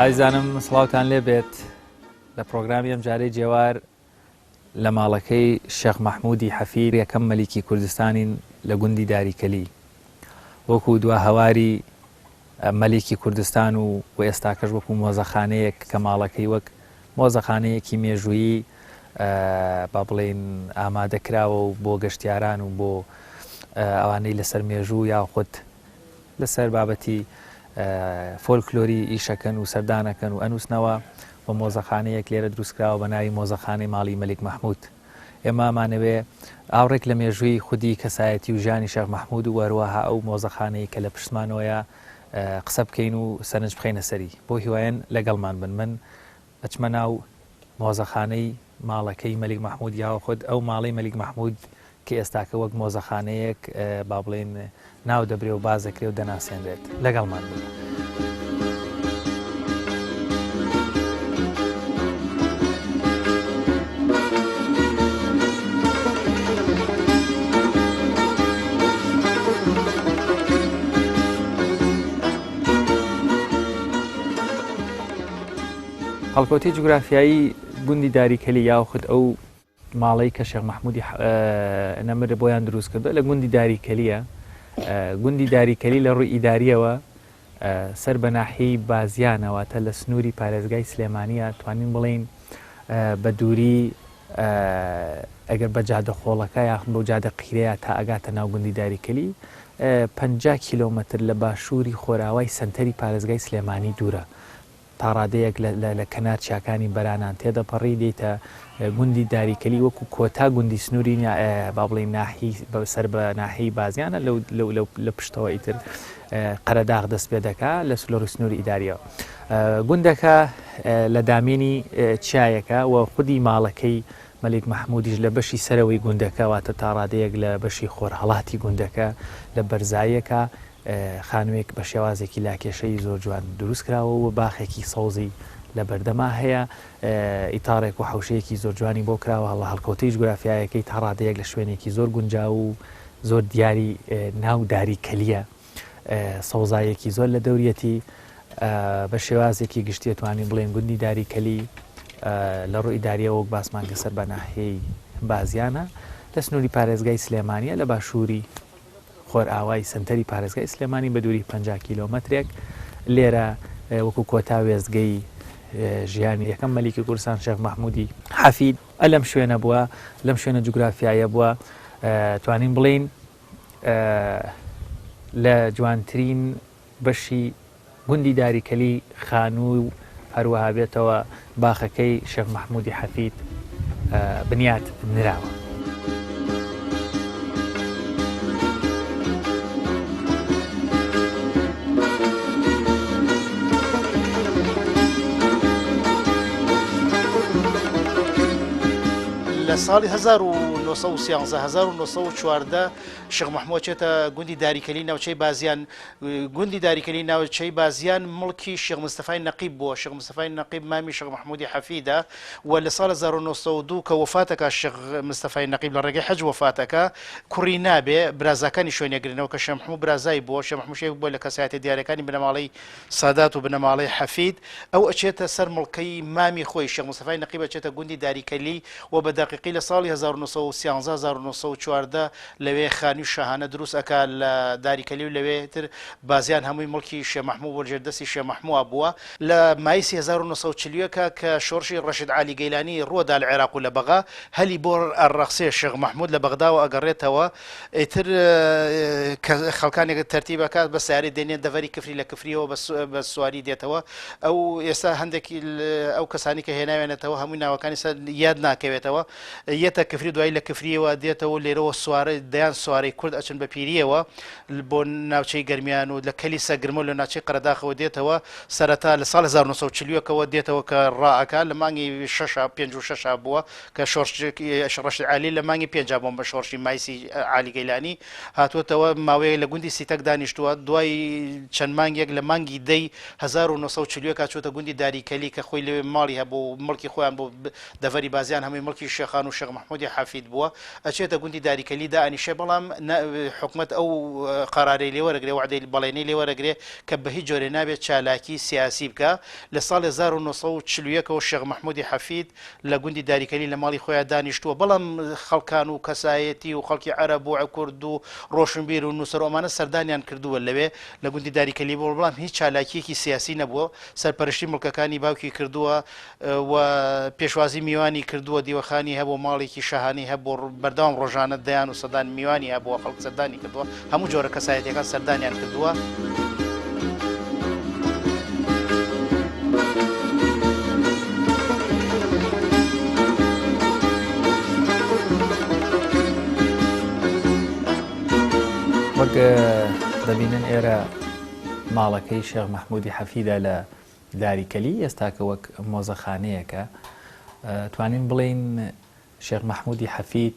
ئایزانم سڵاوان لێ بێت لە پرۆگرامی ئەم جارەی جێوار لە ماڵەکەی شێخ مححمودی حەفیر یەکەم مەلیکی کوردستانین لە گوندی داریکەلی وەکو دوا هەواری مەلیکی کوردستان و و ئێستاکەش وەکو مۆزەخانەیەک کە ماڵەکەی وەک مۆزەخانەیەکی مێژوویی با بڵێن ئامادە کراوە و بۆ گەشتیاران و بۆ ئەوانەی لەسەر مێژوو یاخود لەسەر بابەتی فۆلکلۆری ئیشەکەن و سەردانەکەن و ئەنووسنەوە و مۆزەخانەیەک لێرە دروستکراوە بە ناوی مۆزەخانەی ماڵی مەلیک مححمود ئێمامانەوێ ئاوڕێک لە مێژووی خودی کەسایەتی و ژانی شەخ مححمود و وەروەها ئەو مۆزەخانەی کە لە پشتمانەوەیە قسە بکەین و سەرنج بخەینە سەری بۆ هیوایەن لەگەڵمان بن من ئەچمە ناو مۆزەخانەی ماڵەکەی مەلیک مەحمود یاوە خود ئەو ماڵەی مەلیک مەحمود کە ئێستاکە وەک مۆزەخانەیەک با بڵێن ناو دەبرێ و باز دەکرێ و دەناسێنرێت لەگەڵمان بن. هەڵکەوتەی جوگرافیایی گوندی داریکەلی یاخود ئەو ماڵەی کە شێخ مەحمودی نەمر بۆیان دروست کردو لە گوندی داریکەلیە گوندی داریکەلی لە ڕووی ئیداریەوە سەر بە ناحی بازیانەوەتە لە سنووری پارێزگای سلێمانە توانین بڵین بە دووری ئەگەر بە جادە خۆڵەکە یاخم بۆ جادە قیرەیە تا ئەگاتە ناو گوندی داریکەلی پ کیلومتر لە باشووری خۆراوای سنتەری پارێزگای سلێمانی دوورە تاڕادەیەک لە کەنار چیاکانی بەرانان تێدەپەڕی دێیتە گوندی داریکەلی وەکو کۆتا گوندی سنوری با بڵێین ناحی سەر بە ناحی بازیانە لە پشتەوە ئیتر قەرەداغ دەست پێ دەکا لە سلۆری سنووری ئیداریەوە گوندەکە لە دامێنی چایەکە و خودی ماڵەکەی مەلیک مححمودیش لە بەشی سەرەوەی گوندەکە واتە تاڕادەیەک لە بەشی خۆرهڵاتی گوندەکە لە بەرزایەکە خانووێک بە شێوازێکی لاکێشەیی زۆر جوان دروست کراوە و باخێکی سەوزی لە بەردەما هەیە. ئیتاڕێک و حەوشەیەکی زۆر جوانی بۆ کراوە، هەڵە هەڵکەوتەی جوگرافیایەکەی تا ڕادەیەک لە شوێنێکی زۆر گونجاو و زۆر دیاری ناو داری کەلییە. سەوزاییەکی زۆر لە دەوریەتی. بە شێوازێکی گشتی ئەتوانین بڵێین گوندی داری کەلی لە ڕووی ئیدارییەوە وەک باسمان کرد سەر بە ناحیەی بازیانە لە سنووری پارێزگای سلێمانییە لە باشووری خۆرئاوای سەنتەری پارێزگای سلێمانی بە دووری پەنجا کیلۆمەترێک لێرە وەکوو کۆتا وێستگەی ژیانی یەکەم مەلیکی کوردستان شێخ مەحموودی حەفید ئە لەم شوێنە بووە لەم شوێنە جوگرافیایە بووە توانین بڵین لە جوانترین بەشی گوندی داری کەلی خانووی و هەروەها بێتەوە باخەکەی شێخ مەحمودی حەفید بنیات نراوە. لە ساڵی 1930 1940 شێخ مەحموود چێتە گوندی داریکەلی ناوچەی بازیان گوندی داریکەلی ناوچەی بازیان مڵکی شێخ مستەفای نەقیب بووە شێخ مستەفای نەقیب مامی شێخ مەحموودی حەفیدە و لە ساڵە 1992 کە وەفاتەکە شێخ مستەفای نەقیب لە ڕێگەی حەج وەفاتەکە کوڕی نابێ برازاکانی شوێنێگرنەوە کە شێخ مەحموود برازای بووە شێخ مەحموود شێخ بووە لە کەسایەتیە دیارەکانی بنەماڵەی سادات و بنەماڵەی حەفید، ئەو ئەچێتە سەر مڵکەی مامی خۆی، شێخ مستەفای نەقیب ئەچێتە گوندی داری کەلی و بە دەقیقی لە ساڵی هەزار و نۆ سەد و سیانزە هەزار و نۆ سەد و چواردە لەوێ خانووی شاهانە دروست ئەکا لە داری کەلی و لەوێ تر بازیان هەمووی مڵکی شێ مەحموو بووە ژێر دەستی شێ مەحمووا بووە. لە مایسی هەزار و نۆ سەد و چل و یەک کە شۆڕشی ڕەشید عالی گەیلانی ڕووە دا لە عێراق و لە بەغا هەلی بۆ ئەڕەخسێ شێخ مەحموود لە بەغداوە ئەگەڕێتەوە ئیتر کە خەڵکانێک تەرتیب ئەکات بە سیارەی دێنێن دەڤەری کفری لە کفریەوە بە سواری دێتەوە ئەو ئێستا هەندێکی ئەو کەسانی کە هێناوێنێتەوە هەمووی ناوەکانی سەر یاد ناکەوێتەوە یەتە کفری دوایی لە کفریەوە دێتەوە لێرەوە سوارە دەیان سوارەی کورد ئەچن بە پیریەوە بۆ ناوچەی گەرمیان و لە کەلی سەگرمە لە ناچەی قەرداخەوە دێتەوە سەرەتا لە ساڵ 1940ەوە دێتەوە کە ڕاکە لە مانگی 6 پێ و 6 بووە کە شۆڕشی عالی لە مانگی پێنجا بۆم بە شۆڕشی مایسی عالی گەیلانی هاتووەتەوە، ماوەیەک لە گوندی سیتەک دانیشتووە، دوای چەند مانگێک لە مانگی دەی هەزار و نۆ سەد و چل و یەک چووەتە گوندی داری کەلی کە خۆی لەوێ ماڵی هەبوو و مڵکی خۆیان بوو، دەڤەری بازیان هەمووی مڵکی شێخان و شێخ مەحموودی حەفید بووە، ئەچێتە گوندی داری کەلی دائەنیشێ، بەڵام نە حکومەت ئەو قەرارەی لێ وەرەگرێ، وەعدەی بەڵێنی لێ وەرەگرێ کە بە هیچ جۆرێ نابێ چالاکی سیاسی بکا، لە ساڵی هەزار و نۆ سەد و چل و یەک ەوە شێخ مەحموودی حەفید، لە گوندی داریکەنی لە ماڵی خۆیان دانیشتووە بەڵام خەڵکان و کەسایەتی و خەڵکی عەرەب و کورد و ڕۆشنبیر و نووسەر و ئەمانە سەردانیان کردووە لەوێ لە گوندی داریکەلی بووە بەڵام هیچ چالاکییەکی سیاسی نەبووە سەرپەرشتی مڵکەکانی باوکی کردووە و پێشوازی میوانی کردووە دیوەخانی هەبووە ماڵێکی شاهانەی هەبووە بەردەوام ڕۆژانە دەیان و سەدان میوانی هەبووە خەڵک سەردانی کردووە هەموو جۆرە کەسایەتیەکان سەردانیان کردووە. وەک دەبینن ئێرە ماڵەکەی شێخ مەحمودی حەفیدا لە داری کەلی ئێستاکە وەک مۆزەخانەیەەکە توانین بڵین شێخ مەحمودی حەفید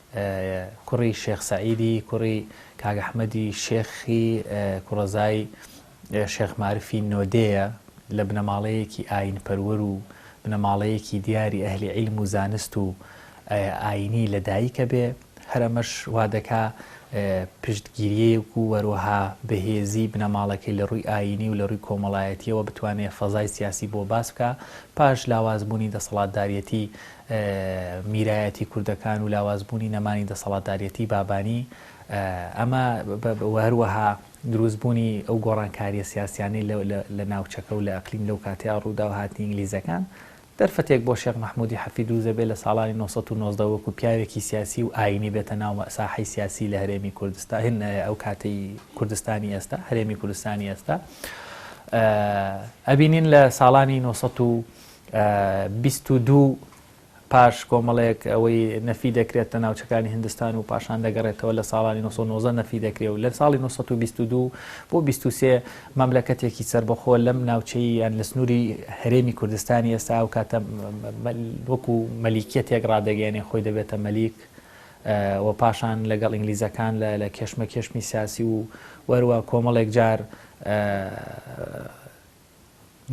کوڕی شێخ سەعیدی کوڕی کاک ئەحمەدی شێخی کوڕەزای شێخ مارفی نۆدێیە لە بنەماڵەیەکی ئایینپەروەر و بنەماڵەیەکی دیاری ئەهلی عیلم و زانست و ئایینی لە دایکە بێ هەر ئەمەش وا دەکا پشتگیریەک و وەروەها بەهێزی بنەماڵەکەی لە ڕووی ئایینی و لە ڕووی کۆمەڵایەتیەوە بتوانێت فەزای سیاسی بۆ باس بکە پاش لاوازبوونی دەسەڵاتداریەتی میرایەتی کوردەکان و لاواز بوونی نەمانی دەسەڵاتداریەتی بابانی ئەمە و هەروەها دروست بوونی ئەو گۆڕانکاریە سیاسیانەی لە ناوچەکە و لە ئەقلیم لەو کاتەیا ڕوودا و هاتنی ئینگلیزەکان دەرفەتێک بۆ شێخ مەحموودی حەفی دروست دەبێت لە ساڵانی نۆ سەد و نۆزدە وەکو پیاوێکی سیاسی و ئاینی بێتە ناو مەساحەی سیاسی لە هەرێمی کوردستا هێن ئەو کاتی کوردستانی ئێستا هەرێمی کوردستانی ئێستا ئەبینین لە ساڵانی نۆ سەد و بیست و دوو پاش کۆمەڵێک ئەوەی نەفی دەکرێت لە ناوچەکانی هندستان و پاشان دەگەڕێتەوە لە ساڵانی 1990 نەفی دەکرێت و لە ساڵی 1922 بۆ 23 مەملەکەتێکی سربەخۆ لەم ناوچەی یان لە سنووری هەرێمی کوردستانی ئێستا ئەو کاتە وەکو مەلیکیەتێک ڕادەگەێنێ خۆی دەبێتە مەلیک و پاشان لەگەڵ ئینگلیزەکان لە لە کێشمە کێشمی سیاسی و وەروە کۆمەڵێک جار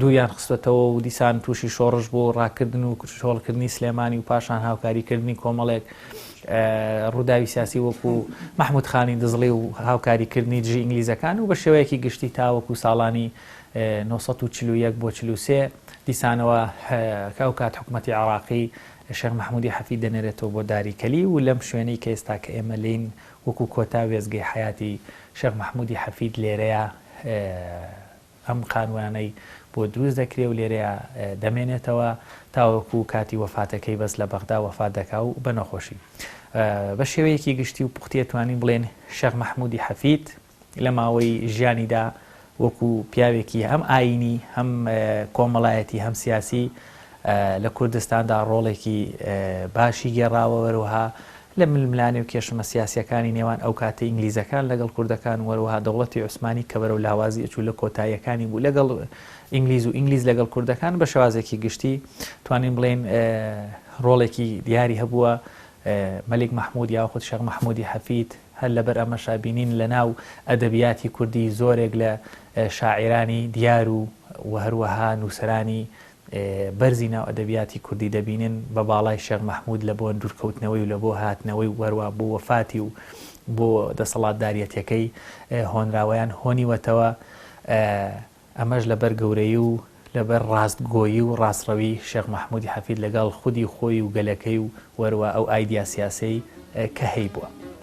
دووریان خستووەتەوە و دیسان تووشی شۆڕش بوو، ڕاکردن و چۆڵکردنی سلێمانی و پاشان هاوکاریکردنی کۆمەڵێک ڕووداوی سیاسی وەکوو مەحموود خانی دزڵی و هاوکاریکردنی دژی ئینگلیزەکان و بە شێوەیەکی گشتی تاوەکوو ساڵانی نۆ سەد و چل و یەک بۆ چل و سێ دیسانەوە کە ئەو کات حکوومەتی عێراقی شێخ مەحموودی حەفید دەنێرێتەوە بۆ داری کەلی و لەم شوێنەی کە ئێستا کە ئێمە لێین وەکوو کۆتا وێستگەی حەیاتی شێخ مەحموودی حەفید لێرەیە ئەم خانوویانەی بۆ دروست دەکرێ و لێرەیا دەمێنێتەوە تاوەکوو کاتی وەفاتەکەی بەس لە بەغدا وەفات دەکا و بە نەخۆشی بە شێوەیەکی گشتی و پوختیە توانین بڵێن شێخ مەحمودی حەفید لە ماوەی ژیانیدا وەکو پیاوێکی هەم ئاینی هەم کۆمەڵایەتی هەم سیاسی لە کوردستاندا ڕۆڵێکی باشی گێڕاوە وەروها لە ململانێ و کێشمە سیاسیەکانی نێوان ئەوکاتەی ئینگلیزەکان لەگەڵ کوردەکان و هەروەها دەوڵەتی عوسمانی کە بەرەو لاوازی ئەچوو لە کۆتاییەکانی بوو لەگەڵ ئینگلیز و ئینگلیز لەگەڵ کوردەکان بە شێوازێکی گشتی توانین بڵێین ڕۆڵێکی دیاری هەبووە مەلیک مەحمود یا خود شێخ مەحمودی حەفید هەر لەبەر ئەمەشا بینین لە ناو ئەدەبیاتی کوردی زۆرێک لە شاعرانی دیار و و هەروەها نووسرانی بەرزی ناو ئەدەبیاتی کوردی دەبینن بە باڵای شێخ مەحموود لە بۆ دوورکەوتنەوەی و لە بۆ هاتنەوەی و هەروا بۆ وەفاتی و بۆ دەسەڵاتداریەتەکەی هۆنراوەیان هۆنیوەتەوە ئەمەش لە بەر گەورەیی و لە بەر ڕاستگۆیی و ڕاستڕەوی شێخ مەحموودی حەفید لە گەڵ خودی خۆی و گەلەکەی و وەروا ئەو ئایدیا سیاسەی کە هەیبووە.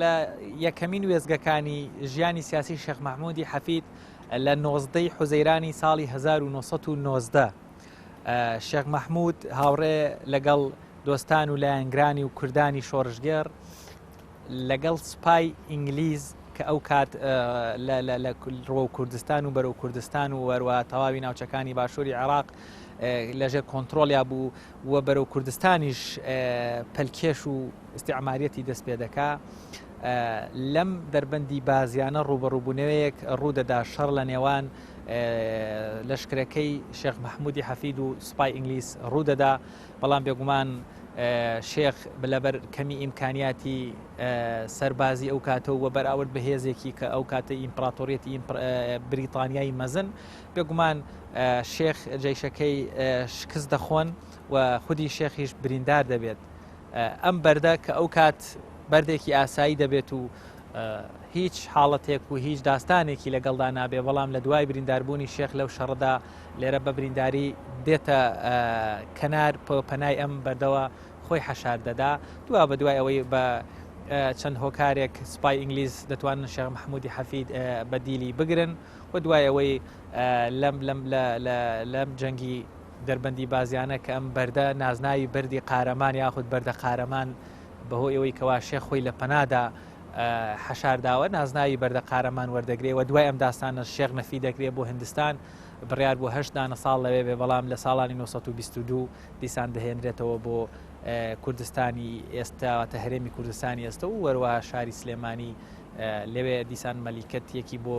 لە یەکەمین وێستگەکانی ژیانی سیاسی شێخ مەحموودی حەفید لە نۆزدەی حوزەیرانی ساڵی 1990 شێخ مەحموود هاوڕێ لەگەڵ دۆستان و لایەنگرانی و کوردانی شۆڕشگێڕ لەگەڵ سپای ئینگلیز کە ئەو کات لە ڕۆ کوردستان و بەرەو کوردستان و وەروە تەواوی ناوچەکانی باشووری عێراق لەژێر کۆنتترۆلیا بوو و بەرەو کوردستانیش پەلکێش و ئیستیعماریەتی دەست پێ دەکا لەم دەربەندی بازیانە ڕوبەڕووبوونەوەیەک ڕوودەدا شەڕ لە نێوان لەشکرەکەی شێخ مححمودی حەفید و سوپای ئینگلیس ڕوودەدا بەڵام بێگومان شێخ لەبەر کەمی ئیمکانیاتی سەربازی ئەو کاتە و بەراورد بە هێزێکی کە ئەو کاتە ئیمپراتۆریەتی بریتانیایی مەزن بێگومان شێخ جیشەکەی شکست دەخۆن و خودی شێخیش بریندار دەبێت ئەم بەردە کە ئەوکات بەردێکی ئاسایی دەبێت و هیچ حاڵەتێک و هیچ داستانێکی لەگەڵدا نابێ بەڵام لە دوای برینداربوونی شێخ لەو شەڕدا لێرە بە برینداری دێتە کەنار پەنای ئەم بەردەوە خۆی حەشار دەدا دوا بە دوای ئەوەی بە چەند هۆکارێک سپای ئینگلیز دەتوانن شێخ مححمودی حەفید بە دیلی بگرن و دوای ئەوەی لەم لەم لەم جەنگی دەربەندی بازیانە کە ئەم بەردە نازناوی بەردی قارەمان یاخود بەردە قارەمان بەهۆ ئەوەی کەوا شێخ خۆی لە پەنادا حەشارداوە نازناوی بەردە قارەمان وەردەگرێ و دوای ئەم داستانە شێخ نەفی دەکرێت بۆ هندستان بڕیار بۆ هەشت دانە ساڵ لەوێ بێ بەڵام لە ساڵانی 1922 دیسان دەهێنرێتەوە بۆ کوردستانی ئێستاواتە هەرێمی کوردستانی ئێستە و وەروە شاری سلێمانی لەوێ دیسان مەلیکەت یەکی بۆ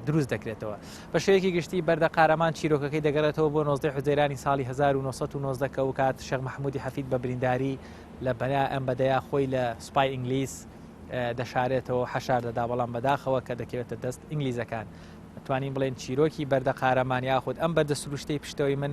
دروست دەکرێتەوە بە شێوەیەکی گشتی بەردە قارەمان چیرۆکەکەی دەگەڕێتەوە بۆ 19 حزەیرانی ساڵی 1990 کە و کات شەق مححمودی حەفید بە برینداری لە بەنا ئەم بەدەیا خۆی لە سوپای ئینگلیس دەشارێتەوە حەشار دەدا بەڵام بەداخەوە کە دەکەوێتە دەست ئینگلیزەکان توانین بڵێن چیرۆکی بەردە قارەمان یاخود ئەم بەردە سروشتەی پشتەوەی من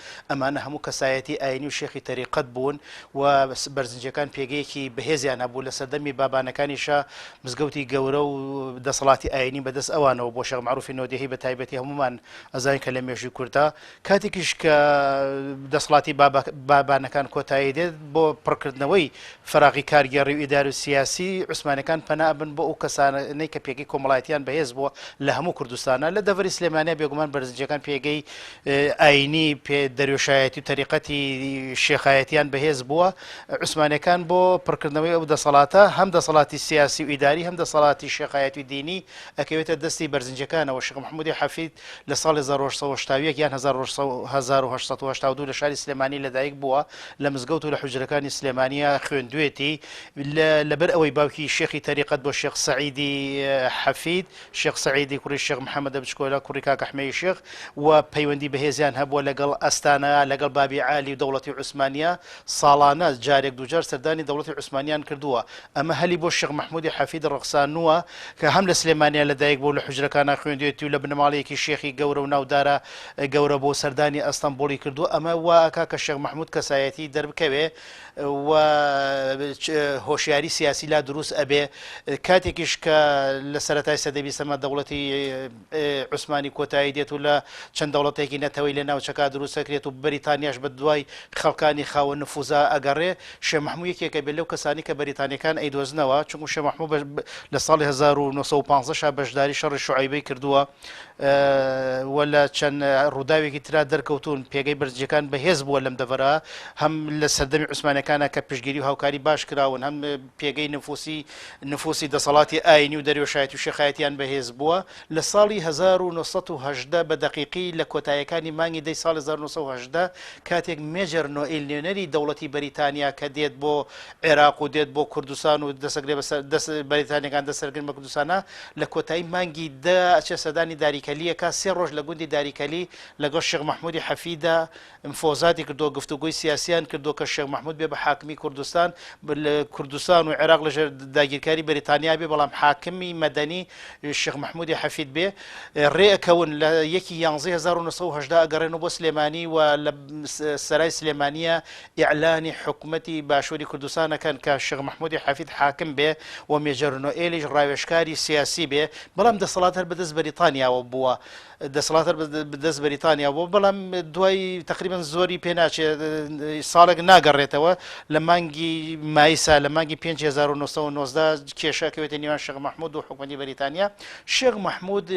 ئەمانە هەموو کەسایەتی ئایینی و شێخی تەریقەت بوون و بەرزنجیەکان پێگەیەکی بەهێزیان هەبوو، لە سەردەمی بابانەکانی شا مزگەوتی گەورە و دەسەڵاتی ئایینی بە دەست ئەوانەوە بووە، شێخ مەعروفی نۆدێهی بە تایبەتی هەموومان ئەزانین کە لە مێژووی کورددا کاتێکیش کە دەسەڵاتی بابانەکان کۆتایی دێت بۆ پڕکردنەوەی فەراغی کارگێڕی و ئیداری و سیاسی عوسمانیەکان پەنا ئەبن بۆ ئەو کەسانەی کە پێگەی کۆمەڵایەتیان بەهێز بووە لە هەموو کوردستانا لە دەڤەری سلێمانیا بێگومان بەرزنجیەکان پێگەی ئایینی پێ دەروێشایەتی و تەریقەتی شێخایەتیان بەهێز بووە، عوسمانیەکان بۆ پڕکردنەوەی ئەو دەسەڵاتە، هەم دەسەڵاتی سیاسی و ئیداری هەم دەسەڵاتی شێخایەتی و دینی ئەکەوێتە دەستی بەرزنجەکانەوە، شێخ محمودی حەفید لە ساڵی هەزار و هەشت سەد و هەشتا و یەک یان هەزار و هەزار و هەشت سەد و هەشتا و دوو لە شاری سلێمانی لەدایک بووە، لە مزگەوت و لە حوجرەکانی سلێمانیە خوێندوێتی، لەبەر ئەوەی باوکی شێخی تەریقەت بووە شێخ سەعیدی حەفید، شێخ سەعیدی کوڕی شێخ محەمەدە بچکۆلە کوڕی کاک ئەحمەی شێخ و پەیوەندی بەهێزیان هەبووە لەگەڵ ئەستانەیا لەگەڵ بابی عالی و دەوڵەتی عوسمانیە ساڵانە جارێک دووجار سەردانی دەوڵەتی عوسمانیان کردووە ئەمە هەلی بۆ شێخ مەحمودی حەفید ڕەخسانووە کە هەم لە سلێمانیا لەدایک بووە و لە حوجرەکانا خوێندوێتی و لە بنەماڵەیەکی شێخی گەورە و ناودارە گەورە بووە سەردانی ئەستەمبوڵی کردووە ئەمە وا ئەکا کە شێخ مەحمود کەسایەتی دەربکەوێ و هۆشیاری سیاسی لا دروست ئەبێ کاتێکیش کە لە سەرەتای سەدەی بیسەمە دەوڵەتی عوسمانی کۆتایی دێت و لە چەند دەوڵەتێکی نەتەوەی لە ناوچەکە دروستەکرێت و بەریتانیاش بە دوای خەڵکانی خاوە نفوزا ئەگەڕێ شێ مححموو یەکێکە بێت لەو کەسانی کە بەریتانەکان ئەیدۆزنەوە چونکو شێ مححموو لە ساڵی 1950 بەشداری شەڕی شعیبەی کردووە و لە چەند ڕووداوێکی ترا دەرکەوتوون پێگەی بەرزجەکان بەهێز بووە لەم دەڤەرە هەم لە سەردەمی عوسمانەکانە کە پشگیری و هاوکاری باش کراون هەم پێگەی نفوسی نفوسی دەسەڵاتی ئاینی و دەروێشایەتی و شێخایەتیان بەهێز بووە لە ساڵی 1970 بە دەقیقی لە کۆتایەکانی مانگی دەی ساڵی 1970 کاتێک مێجەر نۆئیل نوێنەری دەوڵەتی بەریتانیا کە دێت بۆ عێراق و دێت بۆ کوردستان و دەسەگرێ دەست بەریتانیەکان دەسەرگرن بە کوردستانە لە کۆتایی مانگی دە ئەچێ سەدانی داریکەلیەکە سێ ڕۆژ لە گوندی داریکەلی لەگەڵ شێخ مححمودی حەفیدا مفۆزاتی کردو گفتوگوی سیاسیان کردو کە شێخ مححمود بێ بە حاکمی کوردستان لە کوردستان و عێراق لەژێر داگیرکاری بەریتانیا بێ بەڵام حاکمی مەدەنی شێخ مححمودی حەفید بێ ڕێ ئەکەون لە یەکی 11 1970 ئەگەڕێن و بۆ سلێمانی و لە سەرای سلێمانە ئیعلانی حکومەتی باشوری کوردستان ئەکەن کە شێخ مەحمودی حەفید حاکم بێ و مێجەر نۆئێلیش ڕاوێژکاری سیاسی بێ بەڵام دەسەڵات هەر بەدەست بەریتانیاوە بووە دەسەڵات هەر بەدەست بەریتانیا بووە بەڵام دوای تقریبن زۆری پێ ناچێ ساڵێک ناگەڕێتەوە لە مانگی مایسا لە مانگی 1990 کێشەکەوێتە نیوان شێخ مەحمود و حکومەتی بەریتانیا شێخ مەحمود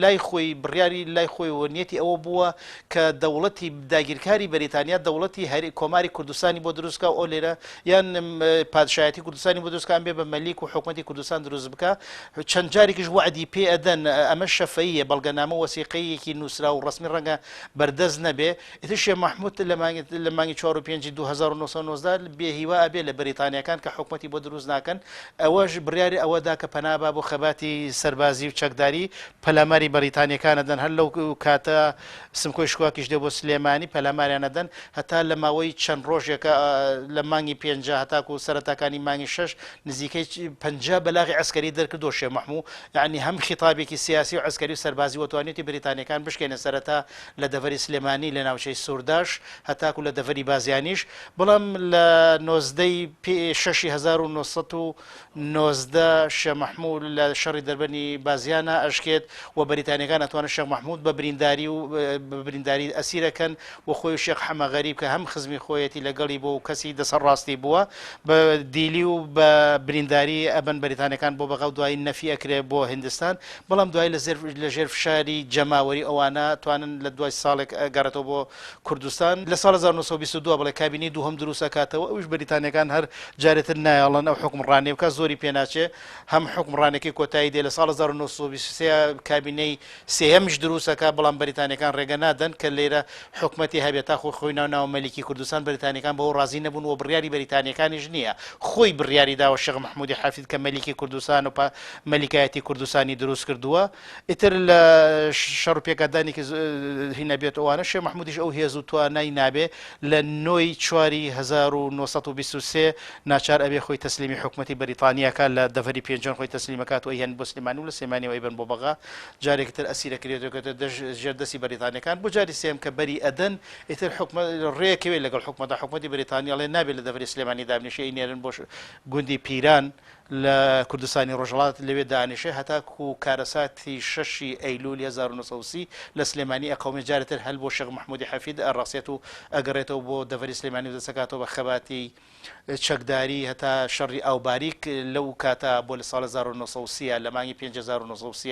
لای خۆی بڕیاری لای خۆی وەنیەتی ئەوە بووە کە دەوڵەتی داگیرکاری بەریتانیا دەوڵەتی هەر کۆماری کوردستانی بۆ دروست بکا و ئەو لێرە یان پادشایەتی کوردستانی بۆ دروست بکا یان بێ بە مەلیک و حکومەتی کوردستان دروست بکا چەند جارێکیش وەعدی پێ ئەدەن ئەمە شەفەییە بەڵگەنامە و وەسیقەیەکی نووسراو و ڕەسمی ڕەنگە بەردەست نەبێ ئیتر شێخ مەحموود لە مانگی لە مانگی چوار و پێنجی دوو هەزار و نۆ سەد و نۆزدە بێ هیوا ئەبێ لە بەریتانییەکان کە حکومەتی بۆ دروست ناکەن ئەوەش بڕیاری ئەوە دا کە پەنا با بۆ خەباتی سەربازی و چەکداری پەلاماری بەریتانیەکان ئەدەن هەر لەو کاتە سمکۆی شکواکیش دێ بۆ سلێمانی پەلاماریان ئەدەن هەتا لە ماوەی چەند ڕۆژێکە لە مانگی پێنجا هەتاکو سەرەتاکانی مانگی شەش نزیکەی پەنجا بەلاغی عەسکەری دەرکردو شێ مەحموو یانی هەم خیتابێکی سیاسی و عەسکەری و سەربازی وە توانیوتی بەریتانیەکان بشکێنێ سەرەتا لە دەڤەری سلێمانی لە ناوچەی سورداش هەتاکو لە دەڤەری بازیانیش بەڵام لە نۆزدە ی شەشی هەزار و نۆ سەد و نۆزدە، شێخ مەحموود لە شەڕی دەربەنی بازیانا ئەشکێت و بەریتانییەکان ئەتوانن شێخ مەحموود بە برینداری و بە برینداری ئەسیر ئەکەن و خۆی و شێخ حەمە غەریب کە هەم خزمی خۆیەتی لەگەڵی بووە و کەسی دەسە ڕاستی بووە بە دیلی و بە برینداری ئەبەن بەریتانییەکان بۆ بەغا و دوایی نەفی ئەکرێ بۆ هندستان بەڵام دوایی لە زێر لە ژێر فشاری جەماوەری ئەوانە توانن لە دوای ساڵێک ئەگەڕێتەوە بۆ کوردستان لە ساڵ هەزار و نۆ سەد و بیست و دوو بڵێ کابینەی دووهەم دروست ئەکاتەوە ئەویش بەریتانیەکان هەر جارێ تر نایەڵن ئەو حوکمڕانیە بکات زۆری پێ ناچێ هەم حوکمڕانەکەی کۆتایی دێ لە ساڵ هەزار و نۆ سەد و بیست و سێ کابینەی سێیەمیش دروست ئەکات بەڵام بەریتانیەکان ڕێگە نادەن کە لێرە حوکمەتی هەبێ تا خۆی خۆی ناوناوە مەلیکی کوردستان بەریتانیەکان بەوە ڕازی نەبوون و بڕیاری بەریتانیەکانیش نیە خۆی بڕیاری داوە شێخ مەحمودی حەفید کە مەلیکی کوردستان و پا مەلیکایەتی کوردستانی دروست کردووە ئیتر لە شەڕو پێکدادانێکی زهی نەبێت ئەوانە شێ مححمودیش ئەو هێز و توانای نابێ لە نۆی چواری 1920 ناچار ئەبێ خۆی تەسلیمی حکوومەتتی بەریتانیاکە لە دەڤری پێنجۆن خۆی تەسلیمەکات و هێن بۆ سلمانی و لە سلمانانی ئەیبن بۆ بەغا جارێکتر ئەسیرەکرێتەکەێت دەژ ژێر دەستی بەریتانەکان بۆ جاری سێم کە بەری ئەدەن ئیتر حکومە ڕێکەوێت لەگەڵ حکومەتدا حکومەتتی بریتانیاڵێ نابێت لە دەڤری سلێمانی دابنیشی نێرن بۆش گوندی پیران و لە کوردستانی ڕۆژهەڵات لەوێ دانیشێ هەتاکو کارەساتی شەشی ئەیلولی هەزار و نۆ سەد و سی لە سلێمانی ئەقەومێ جارێ تر هەل بۆ شێخ محمودی حەفید ئەڕەسێت و ئەگەڕێتەوە بۆ دەڤەری سلێمانی و دەسەکاتەوە بە خەباتی چەکداری هەتا شەڕی ئاوباریک لەو کاتە بۆ لە ساڵ هەزار و نۆ سەد و سی لە مانگی پێنج هەزار و نۆ سەد و سی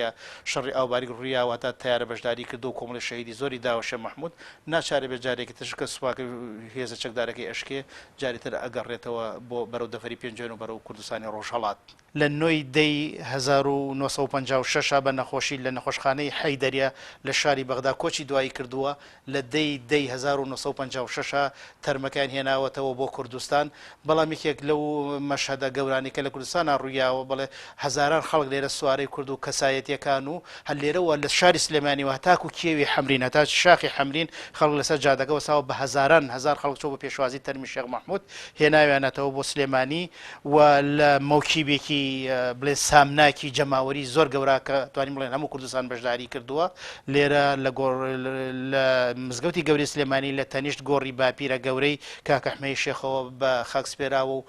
شەڕی ئاوباریک ڕوویا و هەتا تەیارە بەشداری کردوە و کۆمەڵی شەهیدی زۆری داوە شێخ محمود ناچارەبێ جارێکی تر شکە سوپاکەی و هێزە چەکدارەکەی ئەشکێ جاری تر ئەگەڕێتەوە بۆ بەرەو دەڤەری پێنجوێن و بەرەو کوردستانی ڕۆژهەڵات. لە نۆ ی دە ی هەزار و نۆ سەد و پەنجا و شەش بە نەخۆشی لە نەخۆشخانەی حەیدەریە لە شاری بەغدا کۆچی دوایی کردووە، لە دە ی دە ی هەزار و نۆ سەد و پەنجا و شەش تەرمەکەیان هێناوەتەوە بۆ کوردستان، بەڵام یەکێک لەو مەشهەدە گەورانەی کە لە کوردستانا ڕوویاوە بەڵێ هەزاران خەڵک لێرە سوارەی کورد و کەسایەتیەکان و هەر لێرەوە لە شاری سلێمانیەوە هەتاکوو کێوی حەمرین، هەتا شاخی حەمرین خەڵک لەسەر جادەکە وەستاوە، بە هەزاران هەزار خەڵک چووە بۆ پێشوازی تەرمی شێخ مەحموود، هێناویانەتەوە بۆ سلێمانی و لە مۆکیبێکی بڵێن سامناکی جەماوەری زۆر گەورە کە توانین بڵێن هەموو کوردستان بەشداری کردووە لێرە لە گۆڕ لە مزگەوتی گەورەی سلێمانی لە تەنیشت گۆڕی باپیرە گەورەی کاکە حمەی شێخەوە بە خاک سپێراوە و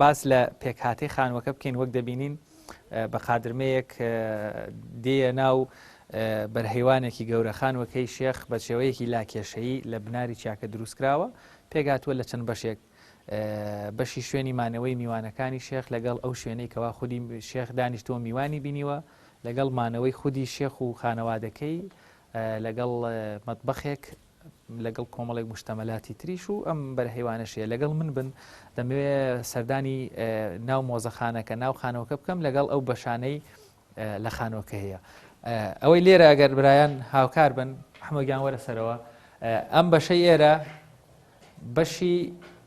باس لە پێکهاتەی خانووەکە بکەین وەک دەبینین بە قادرمەیەک دێە ناو بەرهەیوانێکی گەورەخانوەکەی شێخ بە شێوەیەکی لاکێشەیی لە بناری چاکە دروستکراوە پێگاتوە لە چەند بەشێک بەشی شوێنی مانەوەی میوانەکانی شێخ لەگەڵ ئەو شوێنەی کەوا خودی شێخ دانیشتووە میوانی بینیوە لەگەڵ مانەوەی خودی شێخ و خانەوادەکەی لەگەڵ مەتبخێک لەگەڵ کۆمەڵێک مشتەمەلاتی تریش و ئەم بەرهەیوانەشەیە لەگەڵ من بن دەمەوێ سەردانی ناو مۆزەخانەکە ناو خانەوەکە بکەم لەگەڵ ئەو بەشانەی لە خانۆکە هەیە ئەوەی لێرە ئەگەر برایان هاوکار بن حمەگیان وەرە سەرەوە ئەم بەشەی ئێرە بەشی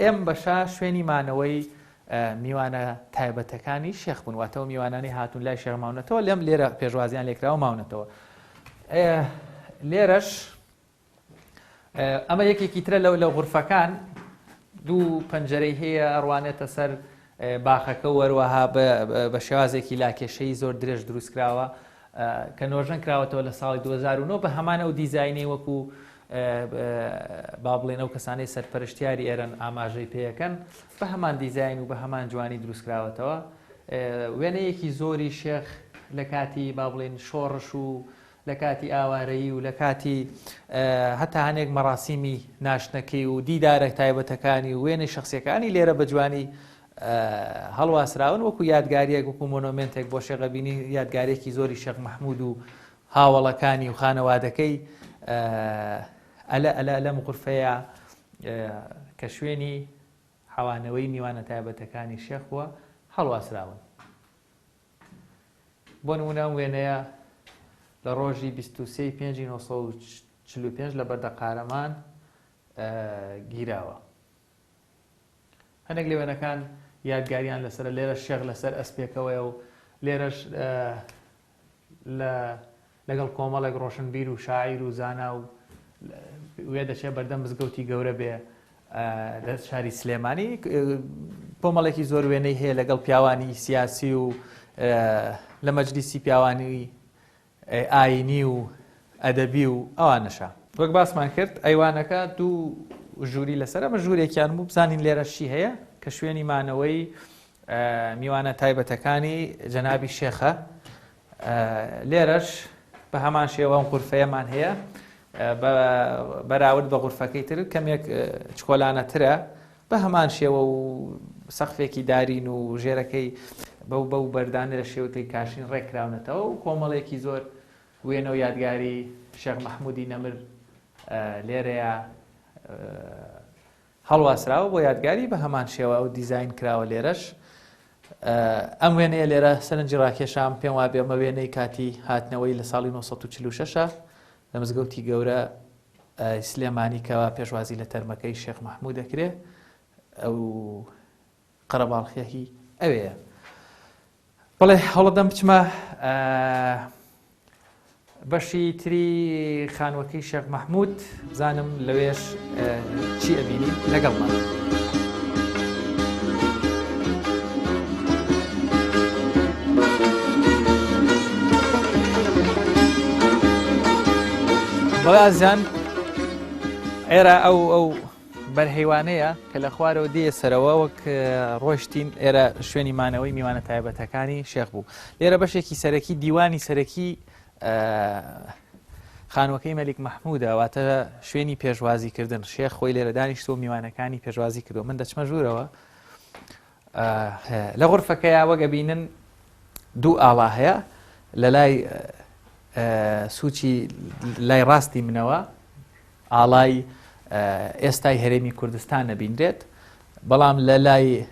ئەم بەشە شوێنی مانەوەی میوانە تایبەتەکانی شێخ بوون واتەوە میوانانی هاتون لای شێخ ماونەتەوە لەم لێرە پێشوازیان لێکراوە ماونەتەوە لێرەش ئەمە یەکێکی ترە لەو لە غورفەکان دوو پەنجەرەی هەیە ئەڕوانێتە سەر باخەکە و هەروەها بە شێوازێکی لاکێشەیی زۆر درێژ دروست کراوە کە نۆژەن کراوەتەوە لە ساڵی دوو هەزار و نۆ بە هەمان ئەو دیزاینەی وەکو با بڵێن ئەو کەسانەی سەرپەرشتیاری ئێرەن ئاماژەی پێەکەن بە هەمان دیزاین و بە هەمان جوانی دروست کراوەتەوە وێنەیەکی زۆری شێخ لە کاتی با بڵێن شۆڕش و لە کاتی ئاوارەیی و لە کاتی هەتا هەنێک مەراسیمی ناشتنەکەی و دیدارە تایبەتەکانی و وێنەی شەخسیەکانی لێرە بە جوانی هەڵواسراون وەکو یادگاریەک وەکو مۆنۆمێنتێک بۆ شێخ ئەڤینی یادگارێکی زۆری شێخ مەحمود و هاوەڵەکانی و خانەوادەکەی ئەلە ئەلە لەم غورفەیە کە شوێنی حەوانەوەی میوانە تایبەتەکانی شێخ بووە هەڵواسراون. بۆ نموونە ئەم وێنەیە لە ڕۆژی بیست و سێی پێنجی نۆ سەد و چل و پێنج لە بەردە قارەمان گیراوە هەندێک لە وێنەکان یادگاریان لەسەر لێرە شێخ لەسەر ئەسپێکەوەیە و لێرەش لە لەگەڵ کۆمەڵێک ڕۆشنبیر و شاعیر و زانا و وێ دەچێ بەردەم مزگەوتی گەورە بێ لە شاری سلێمانی کۆمەڵێکی زۆر وێنەی هەیە لەگەڵ پیاوانی سیاسی و لە مەجلیسی پیاوانی ئاینی و ئەدەبی و ئەوانەشە وەک باسمان کرد ئەیوانەکە دوو ژووری لەسەر ئەمە ژوورێکیان بوو بزانین لێرەشی هەیە کە شوێنی مانەوەی میوانە تایبەتەکانی جەنابی شێخە لێرەش بە هەمان شێوە ئەم غورفەیەمان هەیە بە بەراورد بە غورفەکەی تر کەمێک چکۆلانەترە بە هەمان شێوە و سەقفێکی دارین و ژێرەکەی بەو بەو بەردانە لە شێوتەی کاشین ڕێکراونەتەوە و کۆمەڵێکی زۆر وێنە و یادگاری شێخ مەحمودی نەمر لێرەیە هەڵواسراوە بۆ یادگاری بە هەمان شێوە ئەو دیزاین کراوە لێرەش ئەم وێنەیە لێرە سەرنجی ڕاکێشام پێم وابێ ئەمە وێنەی کاتی هاتنەوەی لە ساڵی 1946ە لە مزگەوتی گەورە سلێمانی کەوا پێشوازی لە تەرمەکەی شێخ مححموو دەکرێ ئەو قەرەباڵخی هی ئەوێیە بڵێ هەوڵەدەم بچمە بەشی تری خانوەکەی شێخ مححمود بزانم لەوێش چی ئەبینی لەگەڵمان. بەڵازان ئێرە ئەو ئەو بەرهەیوانەیە کە لە خوارەوە دێیە سەرەوە وەک ڕۆشتین ئێرە شوێنی مانەوەی میوانە تایبەتەکانی شێخ بوو لێرە بەشێکی سەرەکی دیوانی سەرەکی خانوەکەی مەلیک مححمودا واتە شوێنی پێشوازی کردن شێخ خۆی لێرە دانیشتۆ میوانەکانی پێشوازی کردو من دەچمە ژوورەوە لە غورفەکەیا وەک ئەبینن دوو ئاڵا هەیە لە لای سوچی لای ڕاستی منەوە ئاڵای ئێستای هەرێمی کوردستان نەبینرێت بەڵام لە لای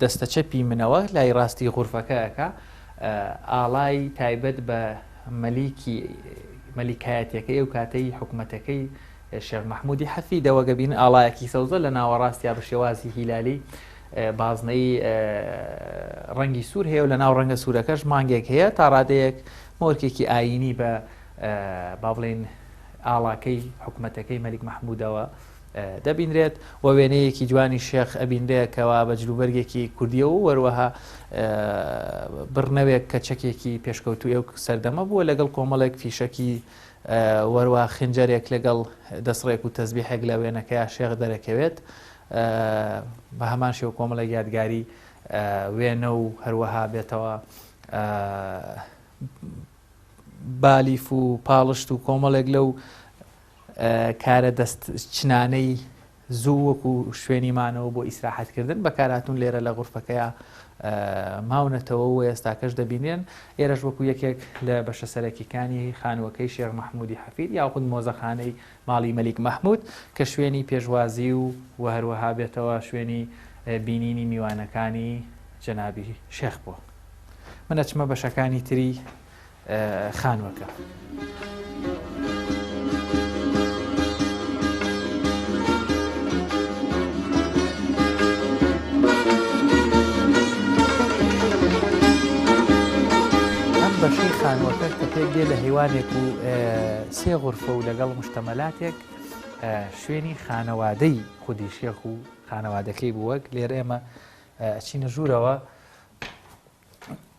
دەستە چەپی منەوە لای ڕاستی غورفەکەەکە ئاڵای تایبەت بە مەلیکی مەلیکایەتەکەی و کاتەی حکوومەتەکەی شێخ مەحموودی حەفی دەوەگەبین ئاڵایەکی سەوزە لە ناوەڕاستیا بە شێوازی هیلالی بازنەی ڕەنگی سوور هەیە و لە ناو ڕەنگە سوورەکەش مانگێک هەیە تا ڕادەیەک مۆرکێکی ئاینی بە با بڵێن ئاڵاکەی حکوومەتەکەی مەلیک مەحموودەوە دەبینرێت و وێنەیەکی جوانی شێخ ئەبینرێکەوە بە جلوبەرگێکی کوردیە و وەروەها بڕنەوێک کە چەکێکی پێشکەوتوی و سەردەمە بووە لەگەڵ کۆمەڵێک فیشەکی وەروا خنجەرێک لەگەڵ دەسڕێک و تەزبیحێک لە وێنەکەیا شێخ دەرەکەوێت بە هەمان شێو کۆمەڵێک یادگاری وێنە و هەروەها بێتەوە بالیف و پاڵشت و کۆمەڵێک لەو کارە دەست چنانەی زوو وەکو شوێنی مانەوە بۆ ئیسراحەت کردن بەکارهاتوون لێرە لە غورفەکەیا ماونەتەوە و ئێستاکەش دەبینرێن ئێرەش وەکو یەکێک لە بەشە سەرەکیکانی خانووەکەی شێخ مەحمودی حەفید یاخود مۆزەخانەی ماڵی مەلیک مەحمود کە شوێنی پێشوازی و و هەروەها بێتەوە شوێنی بینینی میوانەکانی جەنابی شێخ بووە من ئەچمە بەشەکانی تری خانووەکە. ئەم بەشەی خانووەکەش کە پێک دێ لە هێوانێک و سێ غورفە و لەگەڵ مشتەمەلاتێک شوێنی خانەوادەی خودی شێخ و خانەوادەکەی بووەک لێرە ئێمە ئەچینە ژوورەوە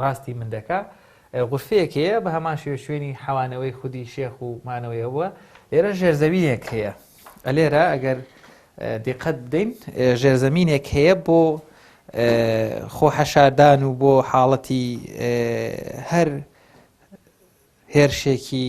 ڕاستی من دەکا غورفەیەک هەیە بە هەمان شێوە شوێنی حەوانەوەی خودی شێخ و مانەوەی هەبووە لێرە ژێرزەوینێک هەیە ئەلێرە ئەگەر دیقەت بدەین ژێرزەمینێک هەیە بۆ خۆ حەشاردان و بۆ حاڵەتی هەر هێرشێکی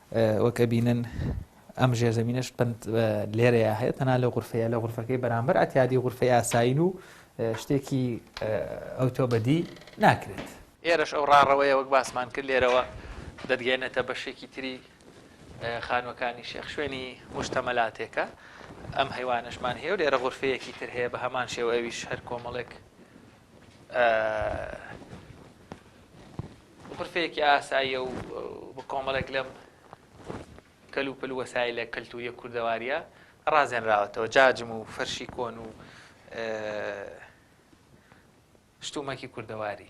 وەک ئەبینن ئەم ژێرزەمینەش پەند لێرەیە هەیە تەنها لە غرفەیە لە غرفەکەی بەرامبەر ئەتیادی غرفەی ئاسایین و شتێکی ئەوتۆ بەدی ناکرێت ئێرەش ئەو ڕاڕەوەیە وەک باسمان کرد لێرەوە دەتگەێنێتە بەشێکی تری خانوەکانی شێخ شوێنی مشتەمەلاتێکە ئەم هەیوانشمان هەیە و لێرە غرفەیەکی تر هەیە بە هەمان شێوە ئەویش هەر کۆمەڵێک غرفەیەکی ئاساییە و بە کۆمەڵێک لەم کەل و پل وەسای لە کەلتوریە کوردەواریە ڕازێنراوەتەوە جاجم و فەرشی کۆن و شتومەکی کوردەواری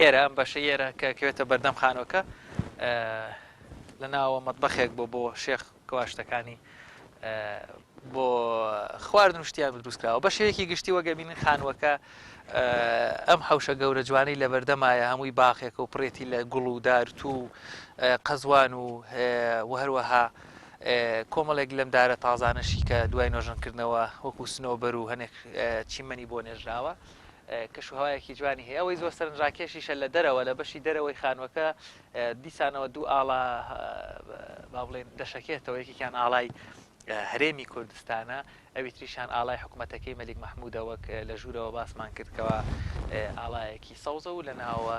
ئێرە ئەم بەشەی ئێرە کە کەوێتە بەردەم خانۆکە لە ناوە مەطبەخێک بۆ بۆ شێخ کەواشتەکانی بۆ خواردن شتیان دروستکراوە بە شێوەیەکی گشتی وەگەبینن خانووەکە ئەم حوشە گەورە جوانی لە بەردەمایە هەمووی باخێکە و پرێتی لە گوڵ و دارت و قەزوان و وهروەها کۆمەڵێک لەم دارە تازانەشی کە دوای نۆژنکردنەوە وەکو سنەوەبەر و هەنێک چیمەنی بۆ نێژراوە کەشوهەوایەکی جوانی هەیە ئەوەی زۆر سەرنجڕاکێشیشە لە دەرەوە لە بەشی دەرەوەی خانوەکە دیسانەوە دوو ئاڵا با بڵێن دەشەکێتەوە یەکێکیان ئاڵای هەرێمی کوردستانە ئەوی تریشان ئاڵای حکوومەتەکەی مەلیک مححمودە وەک لە ژوورەوە باسمان کردکەوە ئاڵایەکی سەوزە و لە ناوە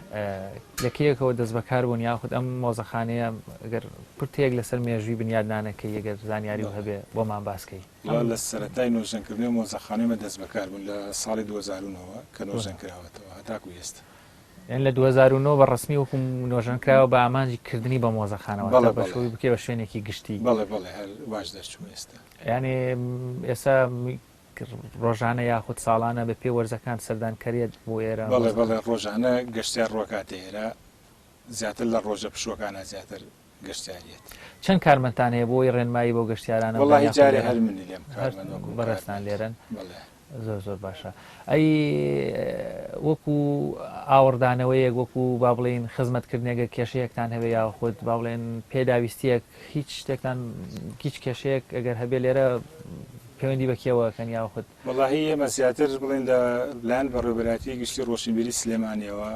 لە کەیەکەوە دەستبەکار بوون یاخود ئەم مۆزەخانەیە گەر پرتەیەک لەسەر مێژووی بنیادنانە کەی گەر زانیاریو هەبێ بۆمان باس کەی. وەڵا لە سەرەتای نۆژەن کردنەوەی مۆزەخانەی مە دەستبەکار بوون لە ساڵی دوو هەزار و نۆ وە کە نۆژەن کراوەتەوە هەتاکو ئێستا. یانی لە دوو هەزار و نۆ بە ڕەسمی وەکو نۆژەن کراوە بە ئامانجی کردنی بە مۆزەخانە واتە بەشوی بکەی بە شوێنێکی گشتی. بەڵێ بەڵێ هەر واش دەرچوو ئێستا. یانی ئێستا ڕۆژانە یاخود ساڵانە بە پێ وەرزەکان سەردان کەرێت بۆ ئێرە؟ بەڵێ بەڵێ ڕۆژانە گەشتیار ڕۆکاتە ئێرە زیاتر لە ڕۆژە پشوەکانە زیاتر گەشتیاریت. چەند کارمەندتان هەیە بۆی ڕێنمایی بۆ گەشتیارانە وەڵی جارێ هەر منی لێم بەڕێستان لێرن زۆر زۆر باشە ئەی وەکو ئاوەڕدانەوەیەک وەکو با بڵین خزمەتکردنێگە کێشەیەکتان هەوێ یا خود با بڵێن پێداویستیەک هیچ شتێکتان هیچ کێشەیەک ئەگەر هەبێ لێرە پەیوەندی بە کێوە ئەکەن یاخود؟ وەڵاهی ئێمە زیاتر بڵێین لە لایەن بەڕێوەبەرایەتیی گشتیی ڕۆشنبیریی سلێمانییەوە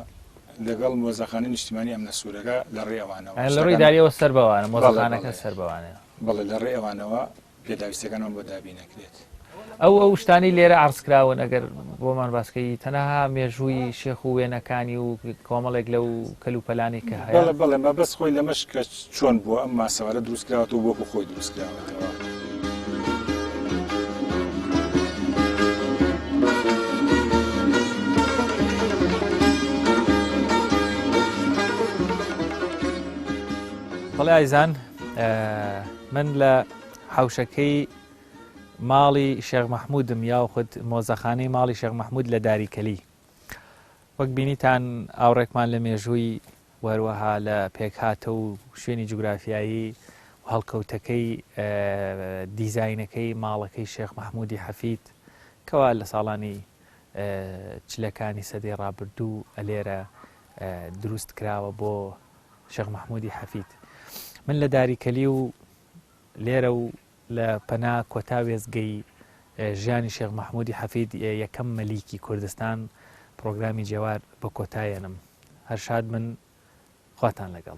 لەگەڵ مۆزەخانەی نیشتیمانیی ئەمنە سوورەکە لە ڕێی ئەوانەوە ئەیان لە ڕێی ئیدارییەوە سەر بەوانە مۆزەخانەکە سەر بەوانەیە بەڵێ لە ڕێی ئەوانەوە پێداویستەکانمان بۆ دابین ئەکرێت. ئەو ئەو شتانەی لێرە عەرز کراون ئەگەر بۆمان باس کەی تەنها مێژووی شێخ و وێنەکانی و کۆمەڵێک لەو کەل و پەلانەی کە هەیە. بەڵێ بەڵێ مەبەست خۆی لەمەش کە چۆن بووە ئەم ماسەوارە دروست کراوەتەوە وەکو خۆی دروست کراوەتەوە. بەڵێ ئایزان من لە حەوشەکەی ماڵی شێخ مەحمودم یاخود مۆزەخانەی ماڵی شێخ مەحمود لە داری کەلی وەک بینیتان ئاوڕێکمان لە مێژووی وەروەها لە پێکهاتە و شوێنی جوگرافیایی و هەڵکەوتەکەی دیزینەکەی ماڵەکەی شێخ مححمودی حەفید کەوا لە ساڵانی چلەکانی سەدەی ڕابردوو ئەلێرە دروست کراوە بۆ شێخ مححمودی حەفید من لە داری کەلی و لێرە و لە پەنا کۆتا وێزگەی ژیانی شێخ مححمودی حەفید یەکەم مەلیکی کوردستان پرۆگرامی جێوار بە کۆتایەنم هەرشاد من خواتان لەگەڵ